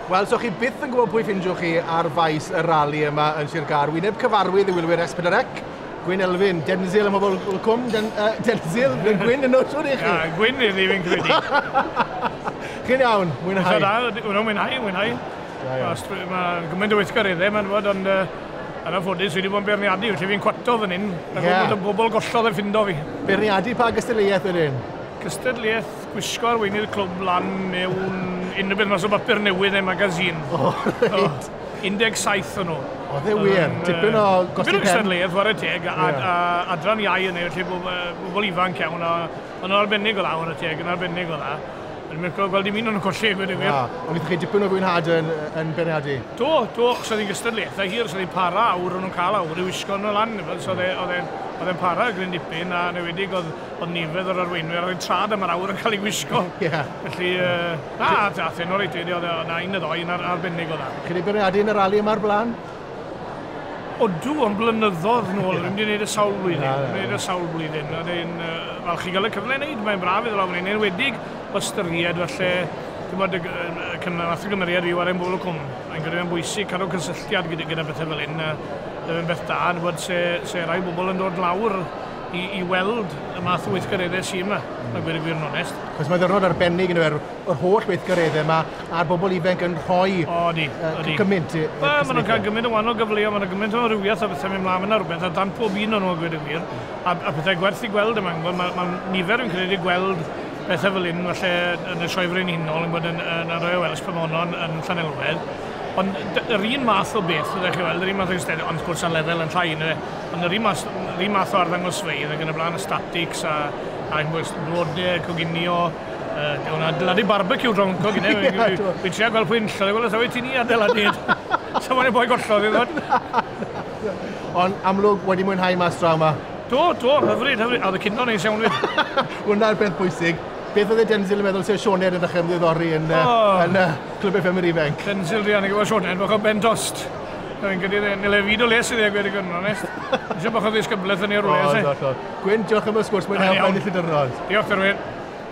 Wel, so chi byth yn gwybod pwy ffindiwch chi ar faes y rali yma yn Sir Gar. Wyneb cyfarwydd i wylwyr Esbydrec. Gwyn Elfyn, Denzil am pobl y cwm, Den, uh, Denzil, yn Gwyn yn nos i chi. Ia, Gwyn i ddim yn credu. Chi'n iawn, mwynhau. Dwi'n dda, wna'n mwynhau, mwynhau. Mae'n gymaint o weithgar idde, mae'n fod, ond uh, yn anffodus, fi wedi bod yn beirniadu, felly fi'n cwato fan hyn, ac yeah. bod yn gwbl gollodd yn ffindo fi. Beirniadu pa gystadleuaeth wedyn? Cystadleuaeth Gwisgo arweinydd clwb lan mewn unrhyw beth mas o bapur newydd neu magazine. O, reit. 17 o'n nhw. Oedd e wir? Yym, Dipyn o gosti pen. Dipyn o gystadleuaeth, ware teg, a, a, a adran iau yn ei, felly bo- yy, bobl ifanc iawn, a o'n nhw'n arbennig o dda, ware teg, yn arbennig o dda. O'n i'n lico gweld dim un o'n nhw'n colli, a gweud y gwir. O, ond wnaethoch chi dipyn o fwynhad yn, yn beirniadu? Do, do, achos oedd hi'n gystadleuaethau hir, so oedd hi'n para awr, o'n nhw'n cael awr i wisgo nhw lan, neu beth, so oedd e, oedd e'n, oedd e'n para gryn dipyn, a yn enwedig oedd, Oedd nifer yr arweinwyr ar ein traed am yr awyr yn cael ei wisgo. Ie. Felly, na, ath e'n oreit rili, oedd yna un neu ddoi yn arbennig o dda. Chi wedi bwriadu yn y rali yma o'r blaen? Odw, ond blynyddodd nôl, ddim wedi gwneud e sawl blwyddyn. Na, na. Ddim wedi gwneud e sawl blwyddyn. Oedd e'n falch i gael y cyfle i wneud, mae'n braf iddo lawr fan hyn, yn enwedig o ystyried falle, timod, y cyngor nath y gymeriad fi ware yn Bobol y Cwm. Fi'n credu mae'n bwysig cadw cysylltiad gyda gyda bethe fel hyn, a bydd e'n beth da, yn gwybod se se rai bobol yn dod lawr i, i weld y math o weithgareddau sydd yma, a gweud y gwir yn onest. Cos mae ddyrnod arbennig yn yr, yr holl weithgareddau yma, a'r bobl ifanc yn rhoi o, di, uh, di. gymaint. Ba, maen nhw'n cael gymaint o wahanol gyfleoedd, maen nhw'n gymaint o rywiaeth a bethau mynd mlaen yna rhywbeth, a dan pob un o'n nhw a gweud y gwir, a, a pethau gwerth i gweld yma, mae, mae, mae nifer yn credu gweld pethau fel hyn, falle yn y sioe frenhinol, yn bod yn, yn, yn Royal Welsh Pomonon yn Llanelwedd, ond yr un math o beth, ydych chi weld, yr un math o eisteddau, ond wrth gwrs ar lefel yn llai, neu Ond yr un math o arddangosfeydd ac yn y blaen, y statics a a ch'mbod blode, coginio, yy o'n adeiladu barbeciw draw yncw gynne fi'n trio gweld pwy enillodd e, wel os oeddet ti'n i adeiladu e so mai'r boi gollodd e t'mod. Ond amlwg wedi mwynhau mas draw 'ma? Do do, hyfryd hyfryd, a o'dd y cino'n neis iawn 'fyd. Hwnna'r peth bwysig. Beth o'dd e Denzil yn meddwl os o'dd Sioned yn dechre ymddiddori yn yy yn yy Clwb FM yr Ifenc? Denzil druan i gwbo Sioned bach o ben dost. Fi'n credu dde- nil e fyd o les i dde gwir digon yn onest. Eisiau bach o ddisgyblaeth yn ei rwle, oes e? Gwyn, diolch am y sgwrs, mwynhau o Blaenillydyrnod. Diolch, Derwyn.